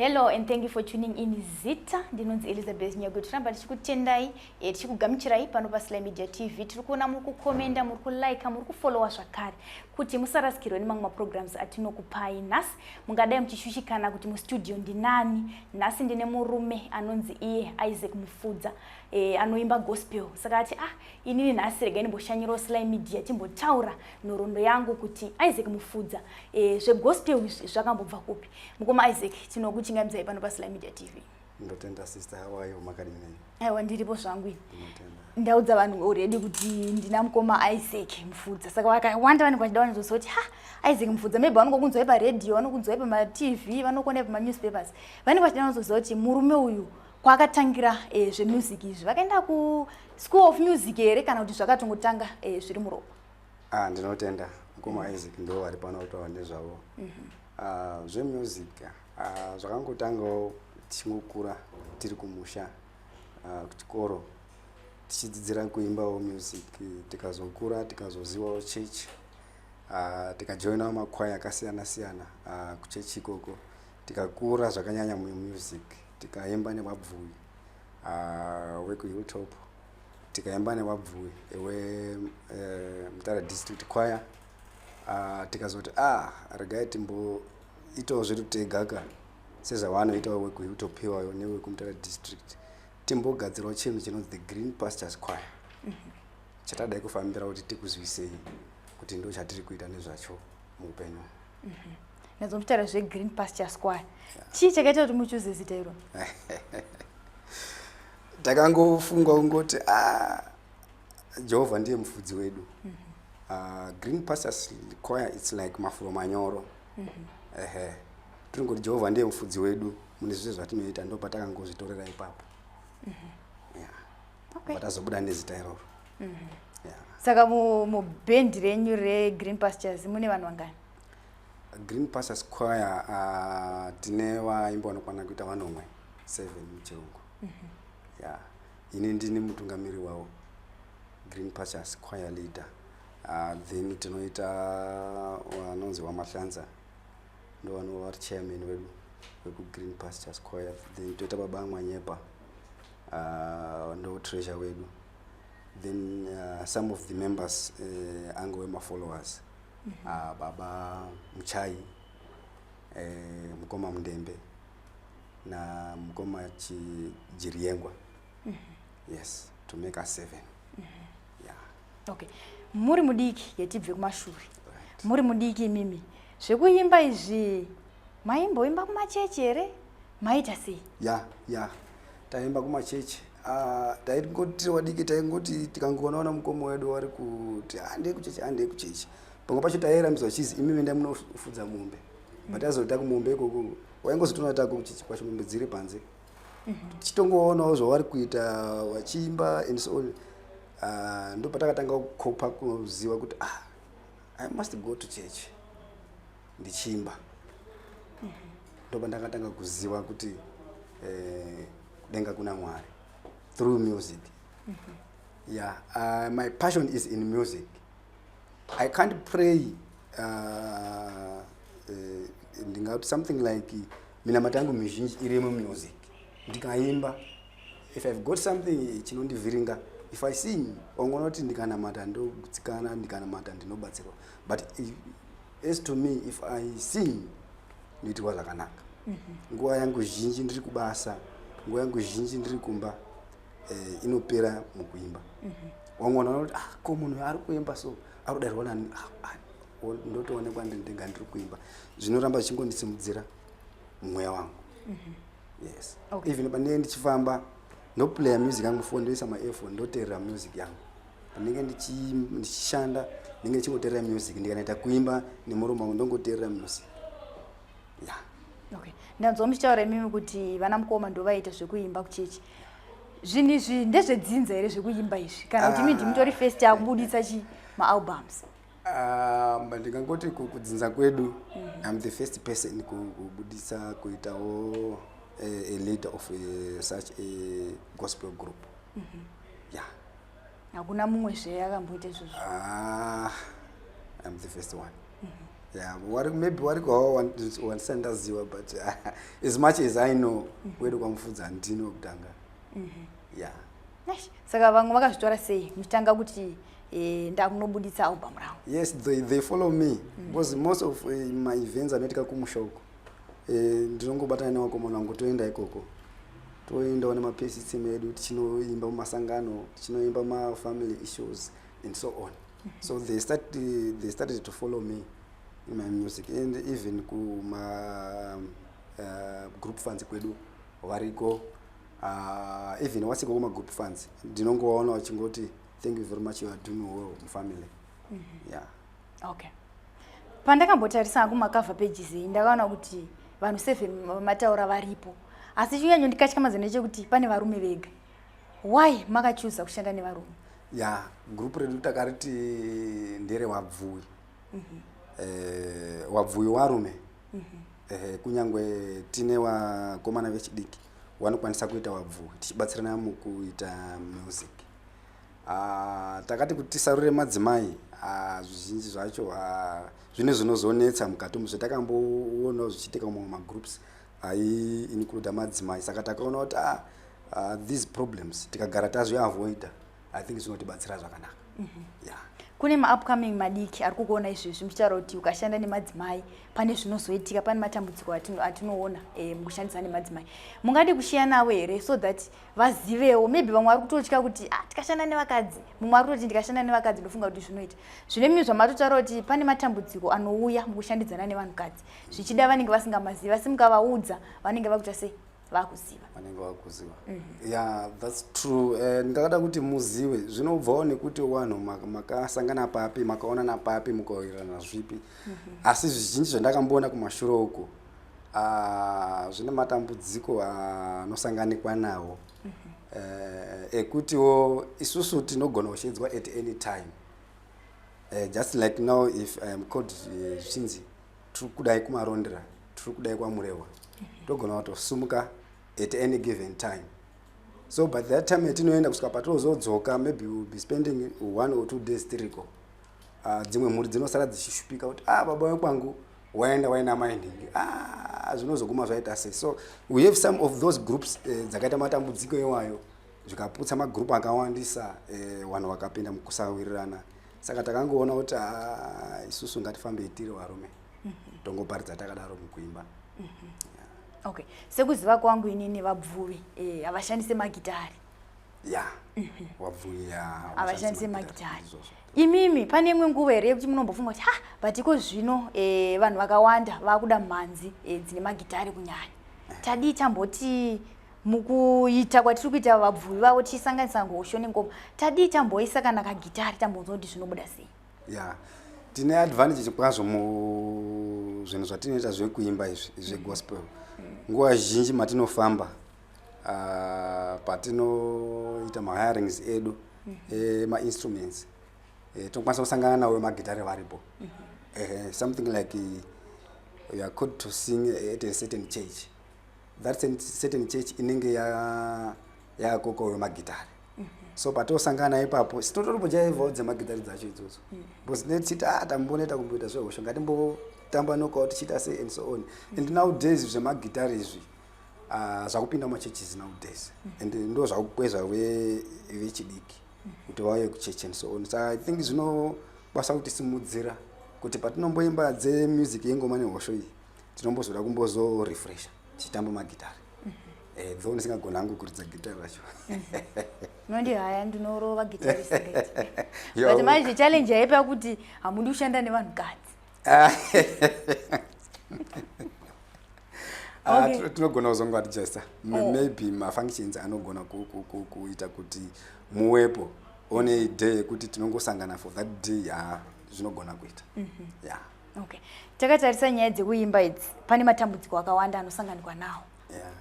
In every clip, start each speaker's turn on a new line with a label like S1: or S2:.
S1: hello and thank you for tuning in zita ndinonzi elizabeth nyago tiramba tichikutendai e, tichikugamuchirai pano pasly media tv tiri kuona muri kukomenda muri kulaika muri kufollowa zvakare kuti musarasikirwe nemamwe maprograms atinokupai nhasi mungadai muchishushikana kuti mustudio ndinani nhasi ndine murume anonzi iye isaac mufudza e, anoimba gospel saka ati ah inini nhasi regai ndimboshanyirawo sly media timbotaura nhorondo yangu kuti isaac mufudza e, zvegospel izvi zvakambobva kupi mukoma isaac tinokuchingamidzai pano pasly media tv ndotenda sister
S2: how are you makadini nei aiwa ndiripo zvangu
S1: ini ndinotenda ndaudza vanhu already kuti ndina mukoma isaac mufudza saka vakawanda vanenge vachida vanozonzwa kuti ha isaac mufudza maybe vanongokunzwai paradio vanokunzwai pamatv vanokuonai pamanewspapers vanenge vachida vanozonzwa kuti murume uyu kwaakatangira eh, zvemusic izvi vakaenda kuschool of music here kana kuti zvakatongotanga eh, zviri muropa ah ndinotenda
S2: mukoma isaac ndivo vari pano kutaura nezvavo Uh, zvemusic uh, zvakangotangawo tichingokura tiri kumusha uh, kuchikoro tichidzidzira kuimbawo music tikazokura tikazozivawo chechi uh, tikajoinawo makwaya akasiyana siyana uh, kuchechi ikoko tikakura zvakanyanya mumusic tikaimba nevabvuyi uh, wekuhilltop tikaimba nevabvuyi ewe uh, mutara district choir uh, tikazoti ah regai timboitawo zvedu tega ka sezvavanoitawo wekutopiwayo newekumutara district timbogadzirawo chinhu chinonzi the green pastures choir mhm. chatadai kufambira kuti tikuzwisei kuti ndo chatiri kuita nezvacho muupenyu mhm.
S1: nezomutaura zvegreen pasture squire chii chakaita kuti muchuze zita iro
S2: takangofunga kungoti a ah, jehovha ndiye mufudzi wedu mm -hmm. uh, green pastors choir its like mafuro manyoro mm -hmm. uh -huh. tiri ngoti jehovha ndiye mufudzi wedu mune zvese zvatinoita ndo patakangozvitorera ipapo mm -hmm. yeah. okay. patazobuda nezita iroro mm -hmm. yeah.
S1: saka mubhendi mu renyu regreen pastures mune vanhu vangani green
S2: pastures choir uh, tine vaimba vanokwana kuita vanomwe seven muchirungu mm -hmm. yeah. ini ndini mutungamiri wawo green pastures choir leader uh, then tinoita vanonzi uh, wamahlanza ndovanova vari chairman wedu wekugreen pastures choir then toita baba amwanyepa uh, ndo treasure wedu then uh, some of the members uh, ange wemafollowers mm -hmm. uh, baba muchai uh, mukoma mundembe namukoma chijiryengwa mm -hmm. yes to make us seven mm -hmm. yeah.
S1: okay muri mudiki yetibve kumashure right. muri mudiki mimi zvekuimba izvi maimboimba kumachechi here maita sei ya yeah, ya yeah.
S2: taimba kumachechi Ah, taingoti tiri vadiki taingoti tikangoonaona mukoma wedu wari kuti handei ah, kuchechi handei ah, kuchechi pamwe pacho taiyera mizwa chizi imi mendai munofudza mombe but azoita kumombe ikoko waingozotoona tako muchichikwa chimombe dziri panze mhm. tichitongoonawo zvavari kuita vachiimba and so on ah, ndo patakatanga kukopa kuziva kuti ah i must go to church ndichiimba mhm. ndo pandakatanga kuziva kuti eh, kudenga kuna mwari through music mhm. yeah uh, my passion is in music i can't pray uh, uh, ndingati something like minamata yangu mizhinji irimo music ndikaimba if ive got something chinondivhiringa if i sing ongonoti ndikanamata ndogutsikana ndikanamata ndinobatsirwa but if, as to me if i sing ndoitirwa zvakanaka mhm. nguva yangu zhinji ndiri kubasa nguva yangu zhinji ndiri kumba eh, inopera mukuimba mhm. wamwe vanhu vanoti ah ko munhu ari kuimba so ari kudairwa nani ah, ah, ndotoonekwa ndinga ndiri kuimba zvinoramba zvichingondisimudzira mweya wangu mhm. yes okay. even pandinenge ndichifamba ndoplaya music yangu fo ndoisa maefo ndoteerera music yangu pandinenge ndichishanda ndinenge ndichingoteerera music ndikanaita kuimba nemurume wangu ndongoteerera music yeah. okay
S1: ndanzwa muchitaura imimi kuti vana mukoma ndovaiita zvekuimba kuchechi zvinhu izvi ndezvedzinza here zvekuimba izvi kana kuti mi ndimutori ah. first akubuditsa chi maalbums um,
S2: ndingangoti kudzinza kwedu mhm. iam the first person kubuditsa kuitawo eh, a leader of eh, such a gospel group mhm. ya
S1: hakuna mumwe zve akamboita izvozvo ah,
S2: I'm the first one mm -hmm. yeah, wari, maybe wari kwawo wandisa ndaziva but uh, as much as I know mm -hmm. wedu kwamufudza handini wekutanga mm -hmm. yeah.
S1: saka vamwe vakazvitora sei muchitanga kuti eh, ndakunobuditsa album ravo yes they, they follow
S2: me mm -hmm. because most of uh, my events anoitika kumusha uko eh, ndinongobatana nevakomana vangu toenda ikoko toendawo nemapesitsime edu tichinoimba mumasangano tichinoimba mafamily issues and so on so they started, they started to follow me in my music and even kuma uh, group funds kwedu variko uh, even wasiko kuma group funds ndinongovaona vachingoti thank you very much you are doing well mufamily mm -hmm. yeah
S1: okay pandakambotarisa hangu makavha pages iyi ndakaona kuti vanhu seven vamataura varipo asi chinyanyo ndikatya mazana chekuti pane varume vega why makachuza kushanda nevarume ya group
S2: redu takariti ndere wabvuwi mm -hmm. eh, wabvuwi warume mm -hmm. eh, kunyange tine wakomana vechidiki wanokwanisa kuita wabvuwi tichibatsirana mukuita music Ah, takati kuti tisarure madzimai ah, zvizhinji zvacho ah, zvine zvinozonetsa mukati umu zvatakamboonawo zvichiitika mumwe magroups aiincluda madzimai saka takaona kuti ah, ah, these problems tikagara tazviavoida i think zvinotibatsira zvakanaka mm -hmm. yeah
S1: kune maupcoming madiki ari kukuona izvezvi muchitaura kuti ukashanda nemadzimai pane zvinozoitika pane matambudziko atinoona e, mukushandisa nemadzimai mungadi kushiya navo here so that vazivewo maybe vamwe vari kutotya kuti ah, tikashanda nevakadzi mumwe ari kutoti ndikashanda nevakadzi ndofunga kuti zvinoita zvine mimi zvamatotaura kuti pane matambudziko anouya mukushandidzana nevanhukadzi zvichida vanenge vasingamazivi asi mukavaudza vanenge vakuita sei vakuziva vanenge vakuziva
S2: mm -hmm. yeah that's true eh, ndakada kuti muzive zvinobvawo nekuti wanhu makasangana maka papi makaonana papi mukaoirana zvipi mm -hmm. asi zvizhinji zvandakamboona kumashure uku Ah, zvine matambudziko anosanganikwa nawo mm -hmm. uh, ekutiwo isusu tinogona kusheedzwa at any time uh, just like now if iam called eh, zvichinzi uh, tiri kudai kumarondera tiri kudai kwamurehwa mhm. togona mm -hmm. kutosumuka at any given time so by that time yatinoenda kusvika patozodzoka maybe will be spending one or two days tiriko uh, dzimwe mhuri dzinosara dzichishupika kuti ah baba wekwangu waenda waina mai nhingi ah, zvinozoguma zvaita se so we have some of those groups eh, dzakaita matambudziko iwayo zvikaputsa magroup akawandisa eh, vanhu vakapinda mukusawirirana saka takangoona kuti ah, isusu ngatifambei tiri varume mhm. tongoparidza takadaro mukuimba
S1: mhm. okay sekuziva kwangu inini vabvuvi eh, havashandise magitari ya
S2: wabvuya havashandise
S1: magitari imimi pane imwe nguva here yekuti munombofunga kuti ha batiko zvino e, vanhu vakawanda vakuda mhanzi e, dzine magitari kunyanya eh. tadii tamboti mukuita kwatiri kuita vabvuvi vavo tichisanganisa ngosho nengoma tadii tamboisa kana kagitari tambonzwa kuti zvinobuda sei ya
S2: tine advantage kwazvo muzvinhu zvatinoita zvekuimba izvi zvegospel mm. nguva zhinji matinofamba Ah, patinoita mahirings edu mhm. eh, mainstruments eh, tinokwanisa kusangana nawo magitare varipo mhm. eh, something like you are called to sing at a certain church that certain church inenge yakoko wemagitare mhm. so patosangana ipapo sitototombojaivawo dzemagitare dzacho idzodzo because netichiti a ah, tambonoita kumboita zvehosho ngatimbotamba nokawo tichiita se and so on and nowdays zvemagitare izvi uh, zvakupinda machurches nowdays mm. and ndo zvakukwezva vechidiki mm. kuti vauye kuchechi and so on so i think zvinobasa kuti simudzira kuti patinomboimba dzemusic yengoma nehosho iyi tinombozoda kumbozorefresha tichitamba magitari mm -hmm. eh, though ndisingagona hangu kuridza gitari racho mhm.
S1: nondi haya ndinorova gitarisbut manje challenge yaipa kuti hamudi kushanda nevanhu kadzi
S2: Ah, okay. tinogona kuzongo adjusta oh. maybe mafunctions anogona kuita kuti muwepo one day yekuti tinongosangana for that day ah, zvinogona kuita mm -hmm. yeah. okay.
S1: takatarisa nyaya dzekuimba idzi pane matambudziko akawanda anosanganikwa nawo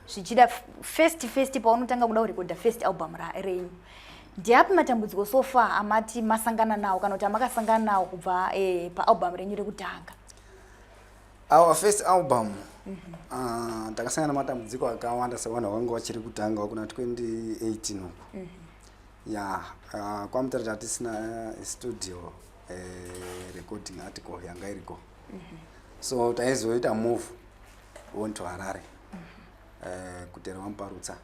S1: zvichida yeah. first first paunotanga kuda kurekodha first album renyu ndiapi matambudziko so far amati masangana nawo kana kuti amakasangana nawo kubva eh, paalbum renyu rekutanga
S2: our first album mhm. ah, takasangana mm -hmm. uh, matambudziko akawanda sevanhu vakanga vachiri kutanga kuna 2018 uku mm -hmm. ya yeah, uh, kwamutara tatisina eh, studio uh, recording article yanga iriko mm -hmm. so taizoita move on to harare mm -hmm. uh, eh, kudera wamuparutsa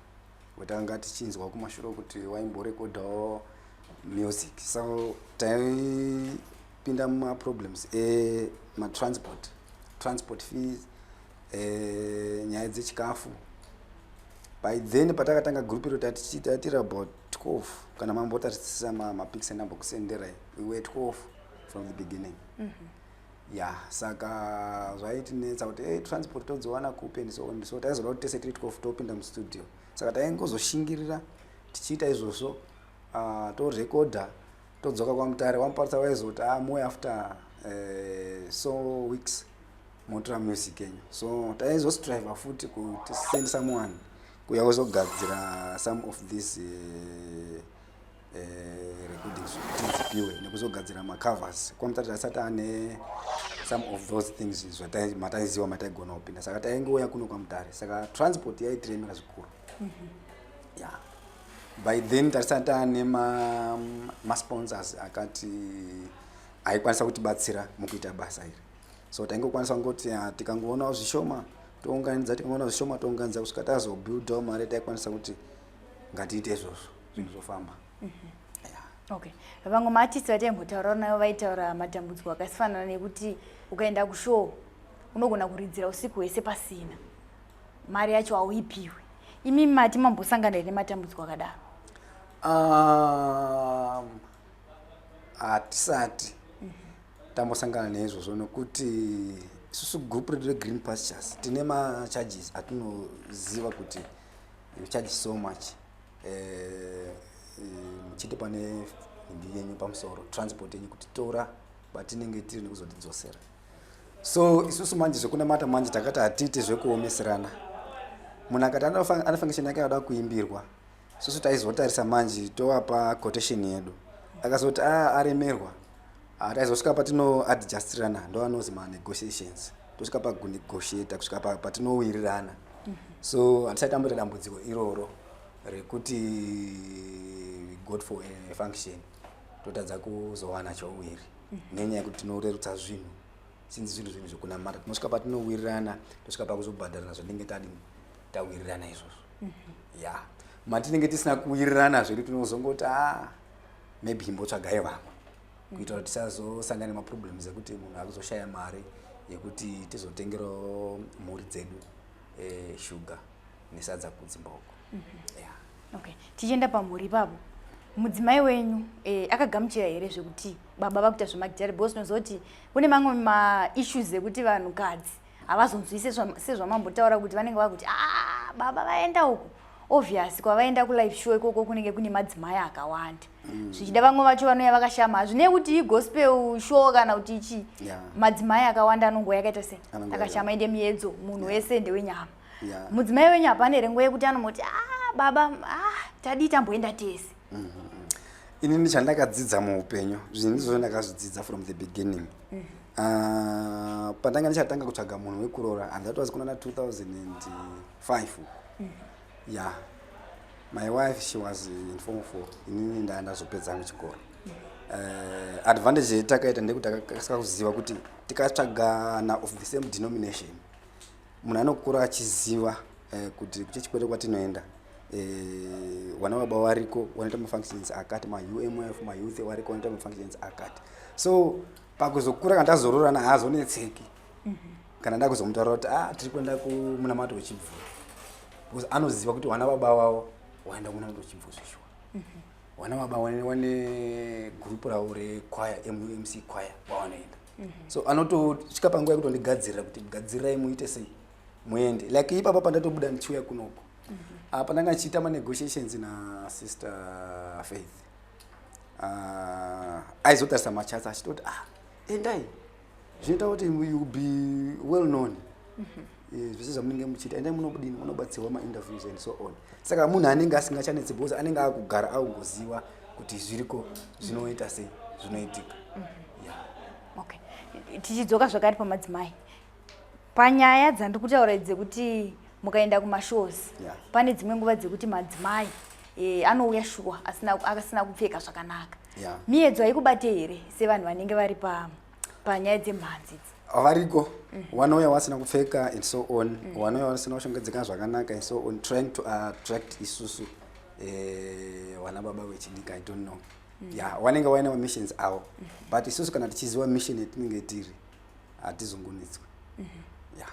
S2: wetanga tichinzwa kumashure kuti waimborekodhawo music so taipinda mumaproblems ematransport transport fees eh, nyaya dzechikafu by then patakatanga group iro tatiri about 12 kana mambotarisisa mapics enambokusendera iwe 12 from the beginning mm -hmm. ya saka zvaitinetsa kuti hey, eh, transport todziwana kupi and so on so taizoda kuti tese tiri tikofu topinda mustudio saka taingozoshingirira tichiita izvozvo uh, ah, torekodha todzoka kwamutare wamuparisa waizoti a ah, moe after uh, so weeks motora music enyu so taizostriva futi kuti send someone kuya kuzogadzira some of these uh, eh, recordings kuti dzipiwe nekuzogadzira macovers kwamutati asati ane some of those things zvamataiziwa mataigona kupinda saka taingouya kuno kwamutare saka transport yaitiremera zvikuru mm -hmm. yeah by then tarisati taane masponsors ma akati aikwanisa kutibatsira mukuita basa iri so taingokwanisa kungoti ah, tikangoonawo zvishoma tounganidza tikangoona zvishoma tounganidza kusvika tazobuildawo mari taikwanisa kuti ngatiite izvozvo zvinhu zvofamba
S1: okay vamwe maartist vataimbotaura nayo vaitaura matambudziko akasifanana nekuti ukaenda kushow unogona kuridzira usiku hwese pasina mari yacho hauipiwe imi mati mambosangana here nematambudziko akadaro um, hatisati um, tambosangana neizvozvo nokuti isusu group redu regreen pastures tine macharges atinoziva kuti you charge so much eh, muchiti uh, uh, pane nhindi yenyu pamusoro transport yenyu kutitora batinenge tiri nekuzotidzosera so isusu manje zvekunamata manje takati hatiite zvekuomeserana munhu akati anofangishon yake anoda kuimbirwa susu taizotarisa manje tovapa quotation yedu akazoti a ah, aremerwa Ah, taizosvika patinoadjustirana ndovanozi manegotiations tosvika pakunegotiata kusvika patinowirirana mhm. so handisati amboita dambudziko iroro rekuti god for a function totadza kuzowana chouwiri mhm. nenyaya yekuti tinorerutsa zvinhu sinzi zvinhu zvinhu zvekunamata tinosvika patinowirirana tosvika pakuzobhadharana zvatinenge tadi tawirirana izvozvo mhm. ya matinenge tisina kuwirirana zvedu tinozongoti a ah, maybe imbotsvagai vamwe kuitira kuti tisazosangana nemaproblems ekuti munhu akuzoshaya mari yekuti tizotengerawo mhuri dzedu eh, shuga nesadza kudzimboko mhm. okay tichienda pamhuri ipapo mudzimai wenyu eh, akagamuchira here zvekuti baba vakuita zvemagijaribho sinoziva kuti kune mamwe maissues ekuti vanhukadzi havazonzwise sezvamambotaura kuti vanenge vakuti a ah, baba vaenda uku obvious kwavaenda kulife show ikoko kunenge kune madzimai akawanda mm. zvichida vamwe vacho vanouya vakashama hazvinei kuti igospel show kana kuti ichii yeah. madzimai akawanda anongoa yakaita sei akashama ende miedzo munhu yeah. wese ndewenyama yeah. mudzimai wenyu hapana here nguva yekuti anomoti a ah, baba a ah, tadii tamboenda tese mm -hmm.
S2: inini chandakadzidza muupenyu zvinhu ndizvo ndakazvidzidza from the beginning mm -hmm. Ah, pandanga ndichatanga kutsvaga munhu wekuroora and that was kunana 2005 uku mm. ya my wife she was in form four inini ndaa ndazopedza angu chikoro mm. uh, advantage yetakaita ndekuti takakasika kuziva kuti tikatsvagana of the same denomination munhu anokura achiziva uh, kuti kuchechikwete kwatinoenda uh, wana baba wariko wanoita mafunctions akati maumf mayouth wariko wanoita mafunctions akati so pakuzokura kana tazororana haazonetseki mm -hmm. kana ndakuzomutaura kuti ah tiri kuenda kumunamato wechibvuri because anoziva kuti wana baba wavo waenda kumunamato wechibvuri zveshuwa mm -hmm wana baba wane wane group ravo rekwaya mumc kwaya kwawanoenda mm -hmm. so anotosvika panguva yekutondigadzirira kuti gadzirirai muite sei muende like ipapa pandatobuda ndichiuya kunoko mm -hmm. apa ndanga ndichiita manegotiations nasister faith ah, aizotarisa machatsi achitoti ah endai zvinoita kuti you be well known mhm. eh, zvese zvamunenge muchiita endai munobudini munobatsirwa mainterviews and so on saka munhu anenge asingachanetsi because anenge akugara akungoziva kuti zviriko zvinoita sei zvinoitika
S1: mhm. tichidzoka zvakare pamadzimai Panyaya dzandikutaura idzi dzekuti mukaenda kumashows yeah. pane dzimwe nguva dzekuti madzimai e, anouya shuwa asina kupfeka zvakanaka yeah. miyedzo haikubate here sevanhu vanenge vari pa, panyaya dzemhanzi idzi variko mm.
S2: wanouya wasina kupfeka and so on mm. wanouya wasina kushongedzeka zvakanaka and so on trying to attract isusu eh, wana baba vechidika i don't know mm. ya yeah, wanenge waine mamissions avo mm. but isusu kana tichiziva mission yatinenge tiri hatizungunitswe mhm. ya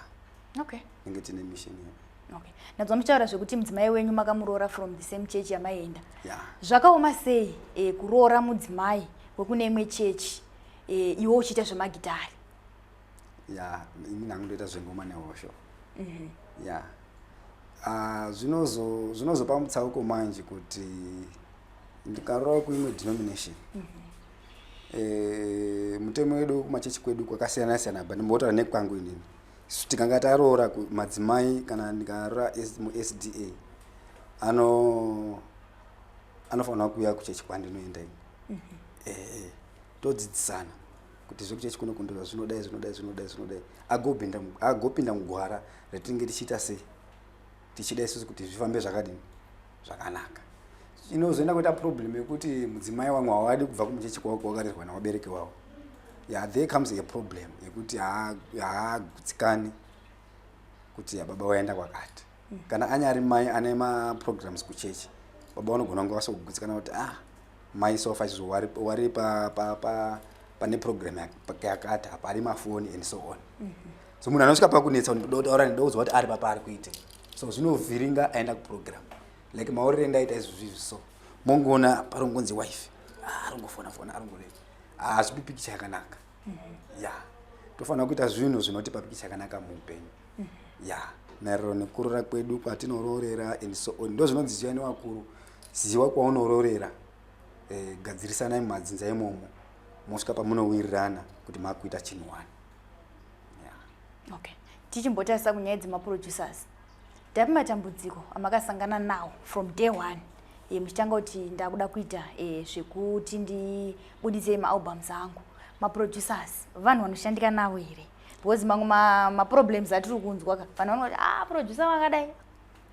S2: okay inge tine mission yedu okay ndanzwa
S1: muchitaura zvekuti mudzimai wenyu makamuroora from the same church yamaienda yeah. zvakaoma sei e, kuroora mudzimai wekune imwe chechi e, eh, iwo uchiita zvemagitari ya
S2: yeah, ini ndangu ndoita zvengoma nehosho mm -hmm. ya yeah. Ah, zvinozopa zvinozo mutsauko manje kuti ndikaroora kuimwe denomination mm -hmm. eh, mutemo wedu wekumachechi kwedu kwakasiyana siyana but ndimbotaura nekwangu inini isu tikanga taroora madzimai kana ndikaroora musda ano anofanira kuuya kuchechi kwandinoenda ini mhm. eh, eh, todzidzisana kuti zvekuchechi kuno kundira zvinodai zvinodai zvinodai zvinodai agopinda mugwara ratinenge tichiita sei tichida isusu kuti zvifambe zvakadini zvakanaka inozoenda kuita problem yekuti mudzimai wangu hawadi kubva kumuchechi kwako wakarerwa nawabereki wavo ya there comes a problem yekuti haagutsikani kuti baba waenda kwakati mm. kana anyari mai ane maprograms kuchechi baba vanogona kunge vasokugutsikana kuti ah mai sofa izvo wari pane program yakati hapari mafoni and so on mm -hmm. so munhu anosvika pakunetsa ndikuda kutaura ndida kuziva kuti ari papa ari kuite so zvinovhiringa aenda kuprogram like maorere ndaita izvozvizvi so mongoona parongonzi wife ah, arongofona fona arongorei hazvipi ah, pikicha yakanaka mm-hmm. ya tofanira kuita zvinhu zvinotipa pikicha yakanaka muupenyu mm-hmm. ya maererano nekurora kwedu kwatinororera and so on ndo zvinonzi ziva newakuru ziva kwaunororera eh, gadzirisanai mumadzinza imomo mosvika pamunowirirana kuti makuita chinhu wani okay
S1: tichimbotarisa kunyaya dzemaproducers ndapi matambudziko amakasangana nawo from day one e, muchitanga kuti ndakuda kuita e, zvekuti ndibudise maalbums angu maproducers vanhu vanoshandika navo here because mamwe maproblems ma atiri kunzwa ka vanhu vanoti a ah, producer vakadai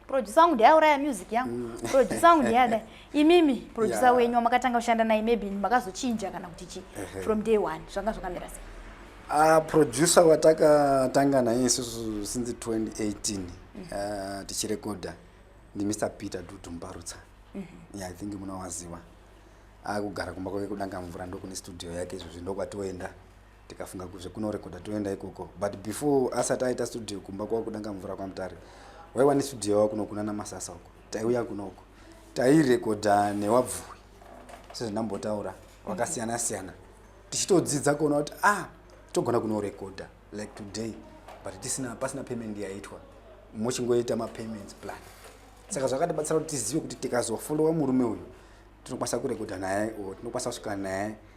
S1: producer wangu ndiye auraya music yangu mm. producer wangu ndiye adai imimi producer yeah. wenyu wamakatanga kushanda naye maybe makazochinja kana kuti chii from day one zvanga zvakamira sei uh, producer
S2: watakatanga naye isusu since 2018 mm. uh, ah, tichirekodha ndimr peter dudu mbarutsa mm -hmm. yeah, i think munowaziwa akugara kumba kwake kudanga mvura ndokune studio yake izvozvi ndokwatoenda tikafunga kuti zvekunorekodha toenda ikoko but before asati aita studio kumba kwava kudanga mvura kwamutare waiwa nestudio yava kuno kuna namasasa uko taiuya kunoko tairekodha newabvuwi sezvandambotaura wakasiyana siyana tichitodzidza kuona kuti ah togona kunorekodha like today but tisina pasina payment yaitwa mochingoita mapayments plan saka zvakatibatsira kuti tizive kuti tikazofollowa murume uyu tinokwanisa kurekodha naye or tinokwanisa kusvika naye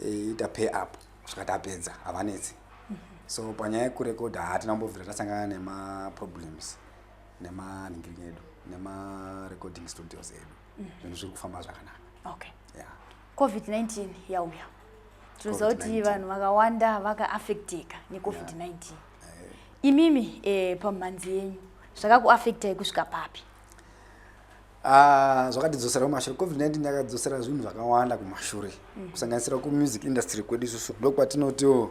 S2: ita pay up kusvika tapedza havanetsi so panyaya yekurekodha hatina kumbobvira tasangana nemaproblems nemanhingiri edu nemarecording studios edu mhm. zvinhu zviri kufamba zvakanaka okay
S1: yeah. covid-19 yauya tinoziva kuti vanhu vakawanda vakaaffecteka necovid-19 yeah. Eh. imimi eh, pamhanzi yenyu zvakakuaffectai kusvika papi Ah,
S2: zvakatidzosera kumashure covid-19 yakadzosera zvinhu zvakawanda kumashure mm. kusanganisira kumusic industry kwedu isusu ndokwatinotiwo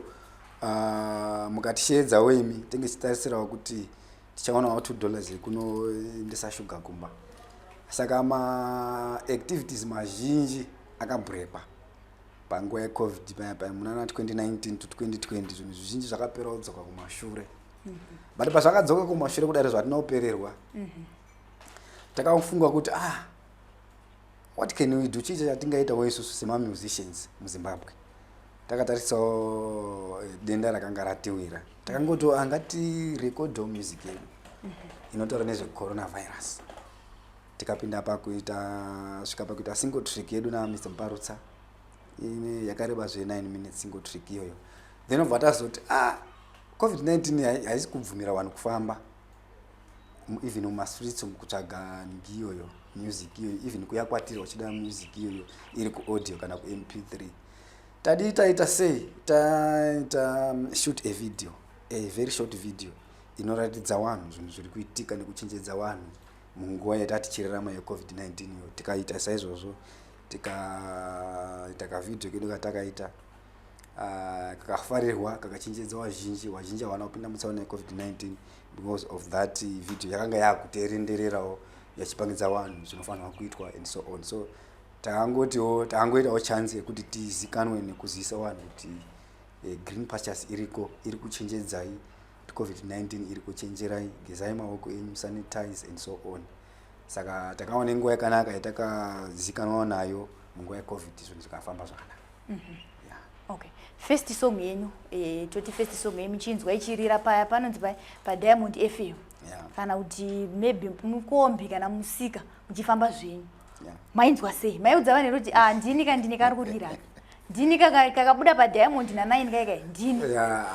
S2: ah, mukatisheedzawo imi tenge tichitarisirawo kuti tichaonawo two dollars yekunoendesa shuga kumba saka maactivities mazhinji akabhurekwa panguva yecovid paya paya munana 2019 to 2020 zvinhu zvizhinji zvakapera kudzoka kumashure mm-hmm. but pazvakadzoka kumashure kudari zvatinopererwa mm-hmm. takafunga kuti ah what can we do chii chatingaitawo isusu semamusicians muzimbabwe takatarisawo eh, denda rakanga ratiwira takangotiwo angati ah, rekodho music yedu mhm. inotaura nezvecoronavirus tikapinda pakuita svika pakuita single trick yedu namr mparutsa ine yakareba zve 9 minutes single trick iyoyo then obva tazoti ah covid-19 haisi kubvumira vanhu kufamba even mumastreets umu kutsvaga ndiyoyo music iyoyo even kuya kwatiri wachida music iyoyo iri kuaudio kana kump 3 tadii taita sei taita um, shoot a video a very short video inoratidza vanhu zvinhu zviri kuitika nekuchenjedza vanhu munguva yatati chirarama yecovid-19 iyo tikaita saizvozvo tikaita kavideo kedu katakaita ah, kakafarirwa kakachenjedza vazhinji vazhinji havana kupinda mutsaona yecovid-19 because of that video yakanga yakuterendererawo yachipangidza vanhu zvinofanirwa kuitwa and so on so takangotiwo takangoitawo chance yekuti tizikanwe nekuzivisa vanhu kuti eh, green pastures iriko iri kuchenjedzai kuti covid-19 iri kuchenjerai gezai maoko enyu sanitize and so on saka takawa nenguva yakanaka yatakazikanwawo nayo munguva yecovid zvinhu zvikafamba zvakanaka mm -hmm.
S1: okay first song yenyu eh, toti first song yenyu chinzwa ichirira paya panonzi paya padiamond fm yeah. kana kuti maybe mukombi kana musika muchifamba zvenyu yeah. mainzwa sei maiudza vanhu here kuti ah, ndini ka ndini kari kurira ndini kakabuda padiamond nanaini kaikai ndini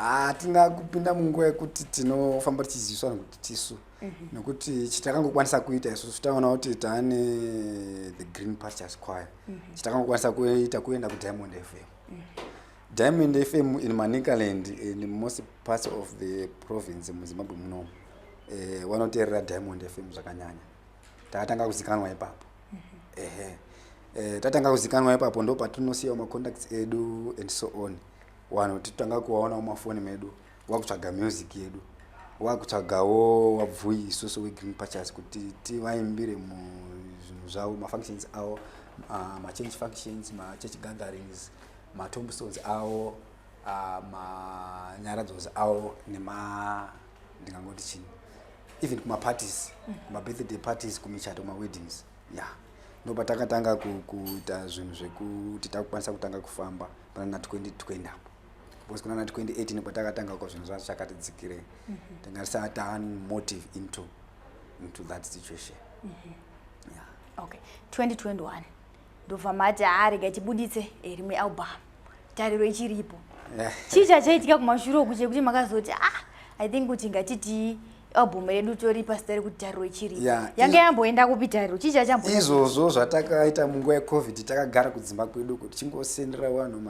S1: hatina yeah,
S2: kupinda munguva yekuti tinofamba tichiziviswa nekuti tisu Mhm. nokuti chitakangokwanisa kuita isusu taona kuti taane the green pastures choir mhm. chitakangokwanisa kuita kuenda kudiamond fm mhm. diamond fm in manicaland in most parts of the province muzimbabwe munomu eh, vanoteerera eh, diamond fm zvakanyanya takatanga kuzikanwa ipapo ehe eh, tatanga kuzikanwa ipapo ndo patinosiyawo macontacts edu and so on wanhu titanga kuwaonawo mafoni medu wakutsvaga music yedu wakutsvagawo wabvuyi isusu wegreen pachas kuti tivaimbire muzvinhu zvavo mafunctions avo ah, machange functions machurch gatherings matombstones avo ah, manyaradzos avo nema ndingangoti chini even kumaparties kumabirthday parties kumichato kumaweddings ya yeah. ndopa takatanga kuita zvinhu zvekuti takukwanisa kutanga kufamba panana 2020 apo because kuna 2018 kwatakatanga ko zvinhu zvacho chakati dzikirei mm -hmm. tingasava taane motive into into that situation mm -hmm. yeah.
S1: okay 2021 ndobva mati aarega tibuditse rimwe album tariro ichiripo chii chachaitika kumashure uku chekuti makazoti ah i think kuti ngatitii album redu tori pazita rekuti tariro ichiri yeah, yange yamboenda kupi tariro chii chachambo izvozvo zvatakaita
S2: munguva yecovid takagara kudzimba kwedu kuti chingosendera vanhu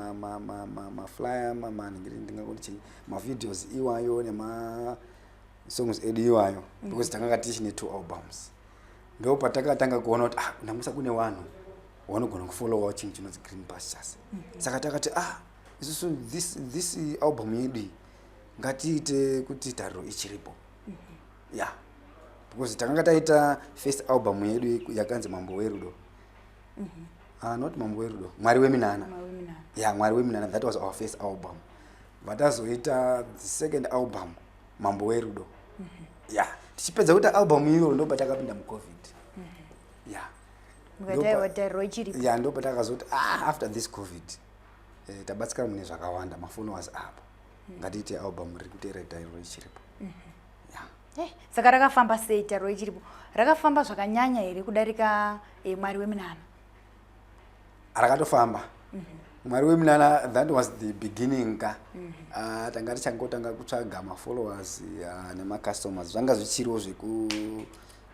S2: maflyer mamanhingirindingakoti mavideos iwayo nemasongs edu iwayo mm. because takanga tichine two albums ndo patakatanga kuona kuti ah namusa kune vanhu wanogona kufollowa chinhu chinonzi green pastures mm -hmm. saka takati ah isusu this, this album yedu iyi ngatiite kuti tariro ichiripo mm -hmm. ya yeah. because takanga taita first album yedu yakanzi mambo werudo mm -hmm. uh, not mambo werudo mwari weminana ya yeah, mwari weminana that was our first album vatazoita the second album mambo werudo mm -hmm. ya yeah. tichipedza kuita album iyo ndo patakapinda mucovid mm -hmm. ya yeah. ya ndo patakazoti ah, after this covid eh, tabatsika mune zvakawanda mafoni was apo mm. ngatiite album riri kuteera tairo ichiripo mm -hmm. yeah.
S1: hey, eh, saka rakafamba sei tairo ichiripo rakafamba zvakanyanya here kudarika eh, mwari weminana rakatofamba
S2: mm -hmm mwari weminana that was the beginning ka mm -hmm. uh, tanga tichangotanga kutsvaga mafollowers uh, ah, nemacustomers zvanga zvichiriwo zveku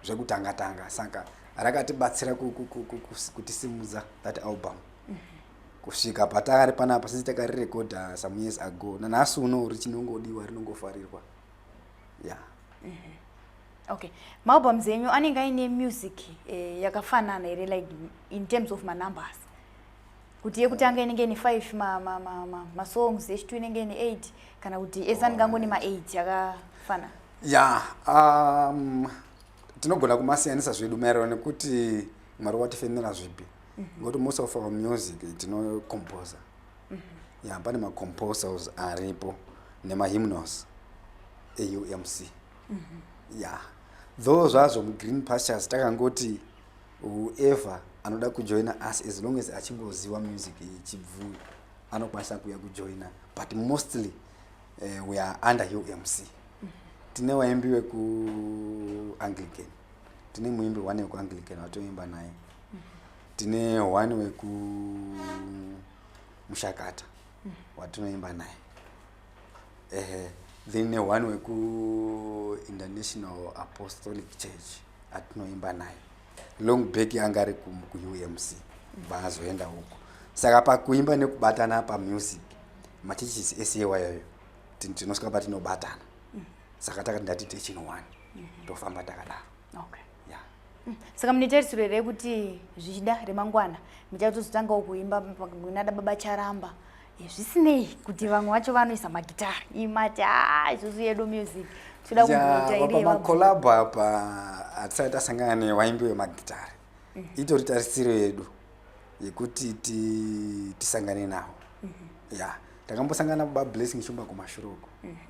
S2: zvekutanga tanga saka rakatibatsira kutisimudza that album mm -hmm. kusvika patari panapa sisi takarirekodha some years ago nanhasi uno richinongodiwa rinongofarirwa ya
S1: yeah. mm -hmm okay maalbums enyu anenge aine music eh, yakafanana here like in terms of manumbers kuti yekutanga eh. inenge ine five masongs yechitu inenge ine eight kana kuti ese anenge angone maeight akafanana ya
S2: um, tinogona kumasiyanisa zvedu maererano nekuti mwari watifemera zvipi mhm. ngokuti most of our music tinocomposer mhm. ya pane macomposers aripo nemahymnos eumc mhm. ya though zvazvo mugreen pastures takangoti whoever anoda kujoina us as long as achingoziva music ichibvuyo anokwanisa kuuya kujoina but mostly uh, we are under umc tine waimbi wekuanglican tine muimbi one wekuanglican watoimba naye tine one wekumushakata watinoimba naye ehe then ne one wekuinternational apostolic church atinoimba naye long back anga ari kuumc vaazoenda huko saka pakuimba nekubatana pamusic machurches ese iwayoyo tinosvika patinobatana saka takati ndati techin one mhm. tofamba takadaro okay. yeah. Mm. saka mune
S1: tarisiro here kuti zvichida remangwana muchatozotangawo kuimba kunada baba charamba eh, zvisinei kuti vamwe vacho vanoisa magitari imati a ah, isusu yedu music toda kumbotairepamakolabu apa
S2: hatisati tasangana newaimbi wemagitari mm. itori tarisiro yedu yekuti tisangane nawo mm -hmm. ya yeah. takambosangana bablessing shumba kumashuruko mm -hmm.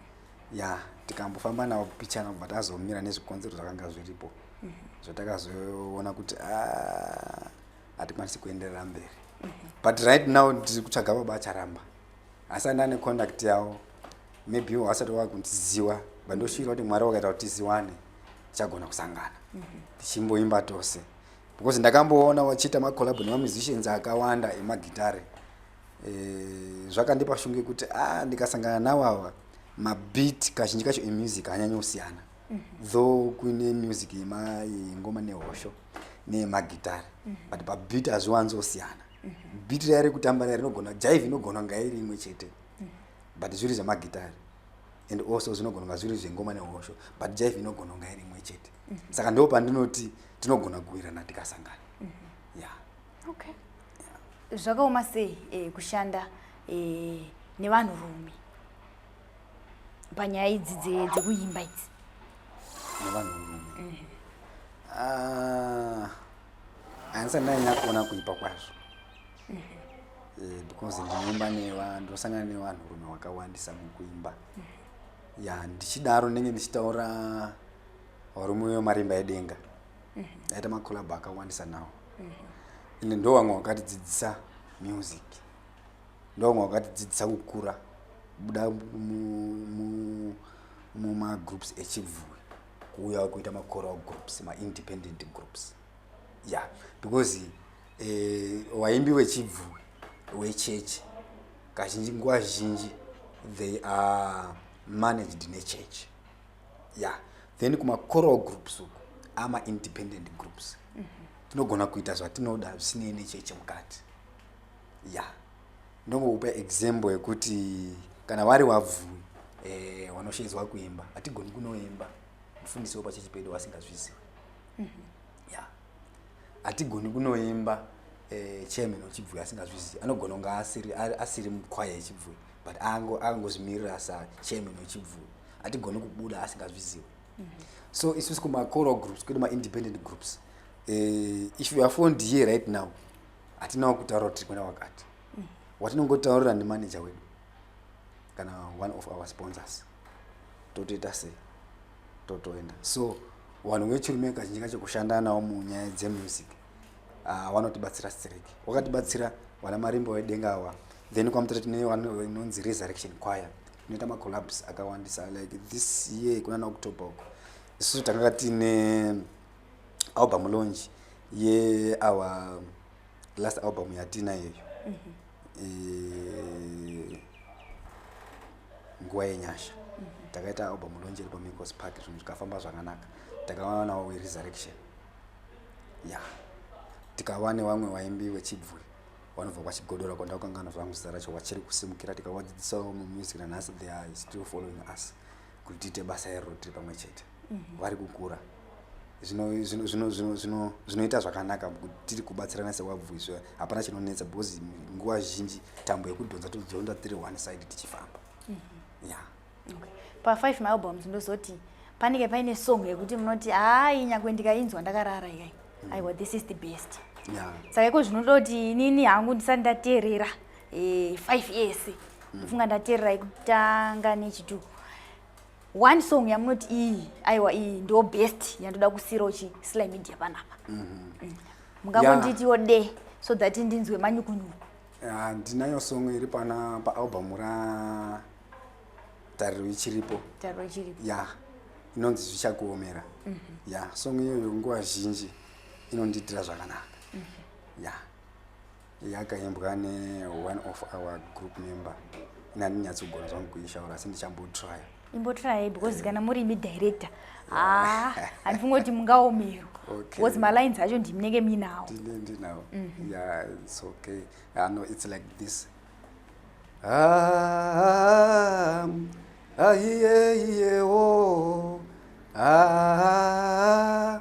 S2: ya tikambofamba navo pichana kubva tazomira nezvikonzero zvakanga zviripo mhm. zvatakazoona kuti ah, hatikwanisi kuenderera mberi mhm. but right now ndiri kutsvaga baba acharamba asi anda ane contact yavo maybe ivo vasati wava kundiziwa but ndoshuira kuti mwari wakaita kuti tiziwane tichagona kusangana mhm. tichimboimba tose because ndakamboona vachiita macolabo nemamusicians akawanda emagitare e, zvakandipa shungu yekuti a ah, ndikasangana nawo ava mabit kazhinji kacho emusic hanyanyi kusiyana mm -hmm. though kuine music yengoma nehosho nemagitare mm -hmm. but pabit hazviwanzi osiyana mm -hmm. bit raya rekutamba raya rinogona jaive inogona kunga iri imwe chete mm -hmm. but zviri zvemagitare and also zvinogona kunga zviri zvengoma nehosho but jaive inogona kunga iri imwe chete mm -hmm. saka ndo pandinoti tinogona kuwirana tikasangana
S1: okay zvakaoma sei e, kushanda e, nevanhu rume panyaya idzi dzekuimba idzi nevanhu
S2: rume mm -hmm. handisa ndanyanya kuona kuipa kwazvo mm -hmm. e, because ndinoimba nevanhu ndosangana nevanhu rume wakawandisa mukuimba mm -hmm. ya ndichidaro ndenge ndichitaura varume vemarimba edenga aita macolab akawandisa nawo and ndo vamwe vakatidzidzisa music ndo vamwe vakatidzidzisa kukura kubuda mumagroups echibvuwi kuuyawo kuita macoral groups maindependent groups ya yeah. because eh, waimbi wechibvuwi wechechi kazhinji nguva zhinji they are managed nechurch yeah then kumacoral groups uku ama independent groups mhm. tinogona kuita zvatinoda zvisinei nechechi mukati ya ndongokupa example yekuti kana vari wabvui eh, wanoshedzwa kuimba hatigoni kunoimba mufundisi wepachechi pedu wasingazvizivi mhm. ya hatigoni kunoimba eh, chairman wechibvuyo asingazvizivi anogona kunge asiri, asiri mukwaya yechibvuyo but angozvimirira ango sa chairman wechibvuyo hatigoni kubuda asingazvizivi mm -hmm. so isusi kumacoro groups kwedu maindependent groups eh, if you are fond here right now hatinawo kutaura kuti tiri kuenda wakati mm -hmm. watinongotaurira nemanager wedu kana one of our sponsors totoita sei totoenda so vanhu vechirume kazhinji kacho kushanda nawo munyaya dzemusic ah, vanotibatsira uh, strek wakatibatsira vana marimbo vedenga awa then kwamutata tine vanonzi resurrection choir inoita macollabs akawandisa like this year kuna naoctober uko isusu tanga tine album launch yeawa yeah, last album yatina yeyo mm -hmm. e, nguva yenyasha mm -hmm. takaita album lonje iri pamicos park zvinhu zvikafamba zvakanaka takawanawo weresurrection ya yeah. tikava nevamwe vaimbi vechibvuri vanobva kwachigodora kwandakukanganwa zvangu zita racho vachiri kusimukira tikawadzidzisawo mumusic nanhasi they are still following us kuti tiite basa iroro tiri pamwe chete mhm. vari kukura zvinoita zvakanaka kuti tiri kubatsirana sewabvu izvo hapana chinonetsa because nguva zhinji tambo yekudhonza todhonza tiri one side tichifamba mhm. ya
S1: pafive maalbums ndozoti panenge paine song yekuti munoti hayi nyangwe ndikainzwa ndakarara ikai mm. aiwa this is the best saka iko
S2: zvinoda kuti
S1: inini hangu ndisati ndateerera eh, five years mm. funga ndatererai kutanga nechitu one song yamunoti iyi aiwa iyi ndo best yandoda kusiyirawo chisly media panapa mm-hmm. mm. mungangonditiwo yeah. de so that ndinzwe manyukunyuku ah, ndinayo
S2: uh, song iri pana paalbum ra tariro ichiripo tariro ichiripo ya yeah. inonzi zvichakuomera mm -hmm. ya yeah. song iyoyo nguva zhinji inondiitira zvakanaka mm -hmm. ya yeah. yakaimbwa ne one of our group member ini handinyatsogona zvangu kuishaura asi ndichambotrya imbotrya because
S1: eh. kana muri imi director ah, handifunga kuti mungaomero because malines acho ndiminenge minawo ndinawo mhm.
S2: ya its okay ah, no its like this ah, ahiye iyewo ah,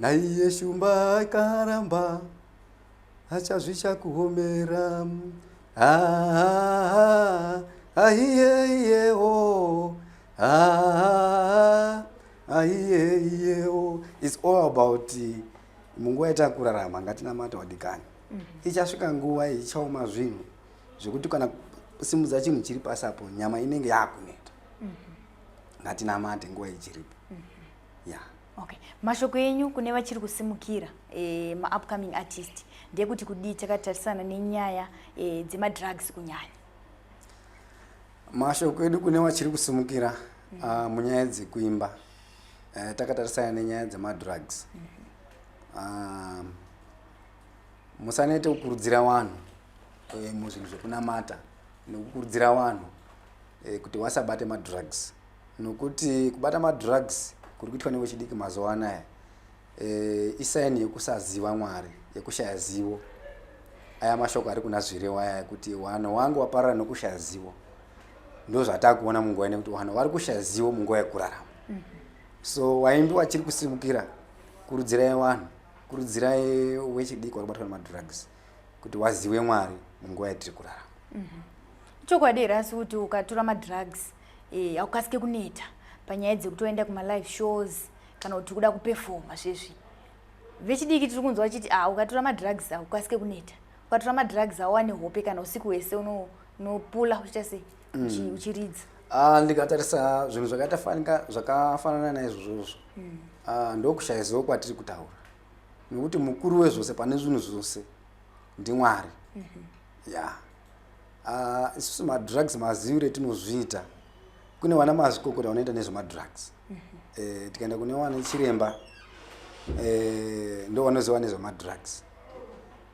S2: Naiye shumba akaramba achazvisha kuhomera ahiyeyewo ahiyeyewo its all about munguva yatakurarama ngatinamata wadikani mhm. ichasvika nguva ichaoma zvinhu zvekuti kana simudza chinhu chiri pasi apo nyama inenge yakuneta mhm. ngatinamate nguva ichiripo mhm. ya yeah. Okay.
S1: Mashoko enyu kune vachiri kusimukira e, maupcoming artist ndeyekuti kudii takatarisana nenyaya e, dzemadrugs kunyanya?
S2: Mashoko edu kune vachiri kusimukira mm. uh, munyaya dzekuimba uh, takatarisana nenyaya dzemadrugs mm -hmm. uh, musanete kukurudzira vanhu uh, muzvinhu zvekunamata nekukurudzira vanhu uh, kuti wasabate madrugs nokuti kubata madrugs kuri kuitwa nevechidiki mazuva anaya e, isaini yekusaziva mwari yekushaya zivo aya mashoko ari kuna zvirewo aya ekuti wanhu wangu waparara nokushaya zivo ndo zvatakuona munguva ine kuti wanhu vari kushaya zivo munguva yekurarama mhm. so waimbi wachiri kusimukira kurudzirai wanhu kurudzirai wechidiki wari kubatwa nemadrugs kuti wazive mwari munguva yatiri kurarama mhm.
S1: chokwadi here asi kuti ukatura madrugs Eh, haukasike kuneta panyaya dzekuti waenda kumalive shows kana kuti kuda kupefoma zvezvi vechidiki tiri kunzwa vachiti ah ukatora madrugs awo ukasike kuneta ukatora madrugs awo wane hope kana usiku hwese unopula uno uchiita sei mm. uchiridza ah, ndikatarisa
S2: zvinhu zvakaita zvakafanana naizvozvozvo mm. ah, ndokushaiziwo kwatiri kutaura nekuti mukuru wezvose pane zvinhu zvose ndimwari mm -hmm. ya ah, isusu madrugs maziiro etinozviita kune vana mazvikokota vanoita nezvemadrugs mhm. eh, tikaenda kune wana chiremba eh, ndo vanoziva nezvemadrugs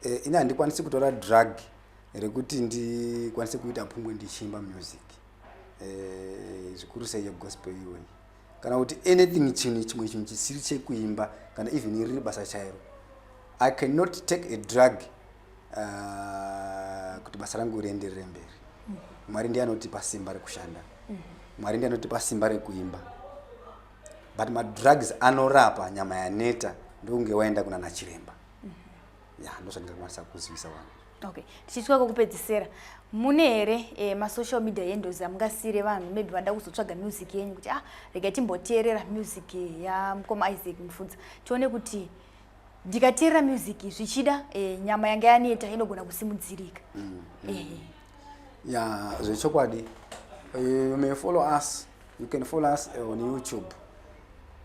S2: eh, ini handikwanisi kutora drug rekuti ndikwanise kuita pungwe ndichiimba music zvikuru sei yegospel iyoyi kana kuti anything chinhu chimwe chinhu chisiri chekuimba kana even riri basa chairo i cannot take a drug uh, kuti basa rangu rienderere mberi mm -hmm. mwari ndiye anotipa simba rekushanda mm -hmm. mwari ndiye anotipa simba rekuimba but madrugs anorapa nyama yaneta ndokunge waenda kuna nachiremba mm -hmm. ya yeah, ndozvandingakuwanisa kuzivisa wangu okay tichitya
S1: kokupedzisira mune here eh, masocial media yendozi amungasiire vanhu maybe vanoda kuzotsvaga music yenyu kuti ah rega timboteerera music yamukoma isaac mufunza tione kuti ndikateerera music zvichida eh, nyama yanga yaneta inogona kusimudzirika mm, mm. Eh. ya
S2: zvechokwadi eh, you may follow us you can follow us eh, on youtube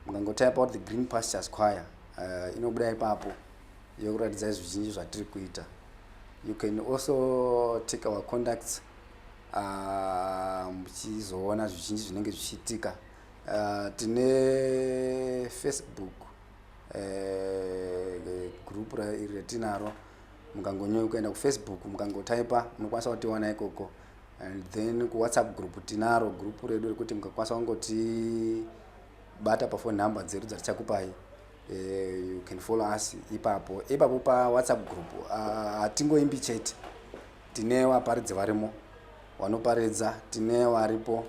S2: mukangotap out the green pastures choir uh, inobuda ipapo yokuratidza zvizhinji zvatiri kuita you can also take our contacts uh, muchizoona zvizhinji zvinenge zvichiitika uh, tine facebook eh, group iri retinaro mukangonyoi kuenda kufacebook mukangotaipa munokwanisa kutiwana ikoko and then kuwhatsapp group tinaro group redu rekuti mukakwanisa kungotibata pafone number dzedu dzatichakupai eh, you can follow us ipapo ipapo pawhatsapp group ah, hatingoimbi uh, chete tine vaparidzi varimo vanoparidza tine varipo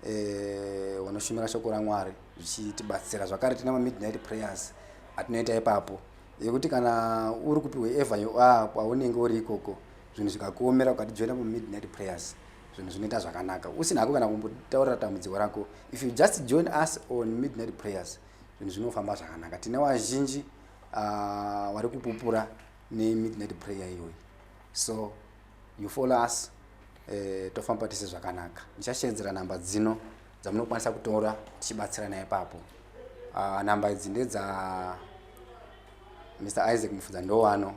S2: eh, vanoshumira shoko ramwari zvichitibatsira zvakare tina mamidnight prayers atinoita ipapo yekuti kana uri kupiwa evanyo ah, kwaunenge uri ikoko zvinhu zvikakuomera ukatijoina mumidnight prayers zvinhu zvinoita zvakanaka usina hako kana kumbotaurira tambudziko rako if you just join us on midnight prayers zvinhu zvinofamba zvakanaka tine vazhinji ah, vari kupupura nemidnight prayer iyoyi so you follow us eh, tofamba tese zvakanaka ndichashenzera namba dzino dzamunokwanisa kutora tichibatsirana ipapo uh, namba idzi ndedza mr isaac mufudza ndowano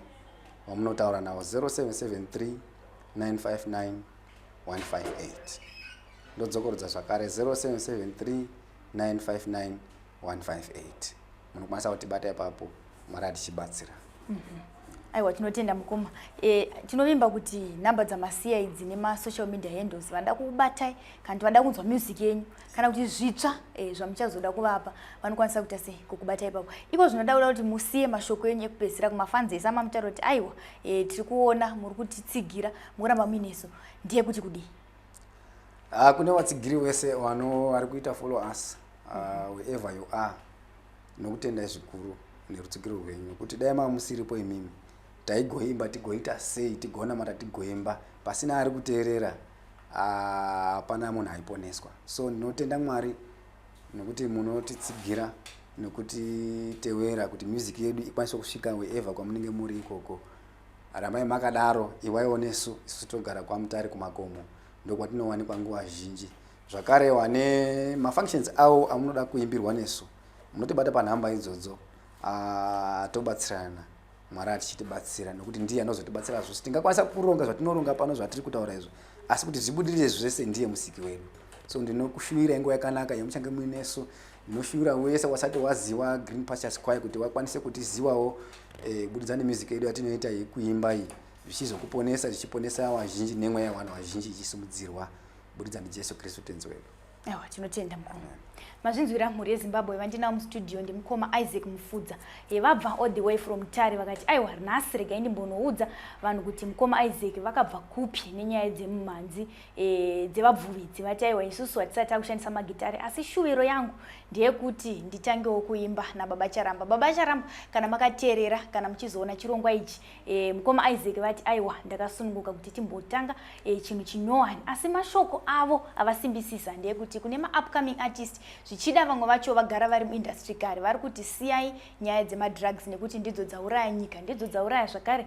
S2: wamunotaura nawo 0773 959 158 ndodzokorodza zvakare 0773 959 158 munokwanisa kutibata ipapo mwari atichibatsira mm -hmm.
S1: aiwa tinotenda mukoma e, tinovimba kuti nhamba dzamasiya idzi nemasocial media handles vanoda kukubatai kana kuti vanoda kunzwa music yenyu kana kuti zvitsva e, zvamuchazoda kuvapa vanokwanisa kuita sei kukubatai ipapo iko zvinoda kuda kuti musiye mashoko enyu ekupedzisira kumafanzi ese amamutaura kuti aiwa e, tiri kuona muri kutitsigira mukuramba muinesu ndiye kuti kudii Ah,
S2: kune vatsigiri wese wano vari kuita follow us uh, ah, wherever you are nokutendai zvikuru nerutsigiro rwenyu nokuti dai maa musiripo imimi taigoimba tigoita sei tigonamata tigoimba pasina ari kuteerera ah, hapana munhu aiponeswa so ndinotenda mwari nokuti munotitsigira nokutitewera kuti music yedu ikwanise kusvika wherever kwamunenge muri ikoko Rambai makadaro, iwaiwo nesu, isu togara kwaMutare kumakomo, ndokwatinowanikwa nguva zhinji. Zvakare wane mafunctions awo amunoda kuimbirwa nesu, munotibata panhamba idzodzo, ah, tobatsirana. Mwari atichitibatsira nokuti ndiye anozotibatsira zvose. Tingakwanisa kuronga zvatinoronga pano zvatiri kutaura izvo, asi kuti zvibudirire zvese ndiye musiki wedu. So ndinokushuwirai nguva yakanaka yamuchange muinesu. Ndinoshuvira wese wasati waziwa Green Pastures Choir kuti wakwanise kutiziwawo eh, kubudikidza eh, nemusic yedu yatinoita yekuimba iyi zvichizokuponesa zvichiponesa vazhinji nemweya yevanhu vazhinji ichisimudzirwa kubudikidza ndiJesu Kristu tenzi wedu. Ewa tinotenda
S1: mukoma. Mazvinzwira mhuri yeZimbabwe vandinawo mustudio ndimukoma Isaac Mufudza. He vabva all the way from Tare vakati aiwa nhasi regai ndimbonoudza vanhu kuti mukoma Isaac vakabva kupi nenyaya dzemumhanzi e, dzevabvuvi dzevataiwa isusu hatisati takushandisa magitare asi shuviro yangu ndeyekuti nditangewo kuimba nababa charamba baba charamba kana makateerera kana muchizoona chirongwa ichi e, mukoma isaac vati aiwa ndakasununguka kuti timbotanga e, chinhu chinyowani asi mashoko avo avasimbisisa ndeyekuti kune maupcoming artist zvichida vamwe vacho vagara vari muindustry kare vari kuti siyai nyaya dzemadrugs nekuti ndidzo dzauraya nyika ndidzo dzauraya zvakare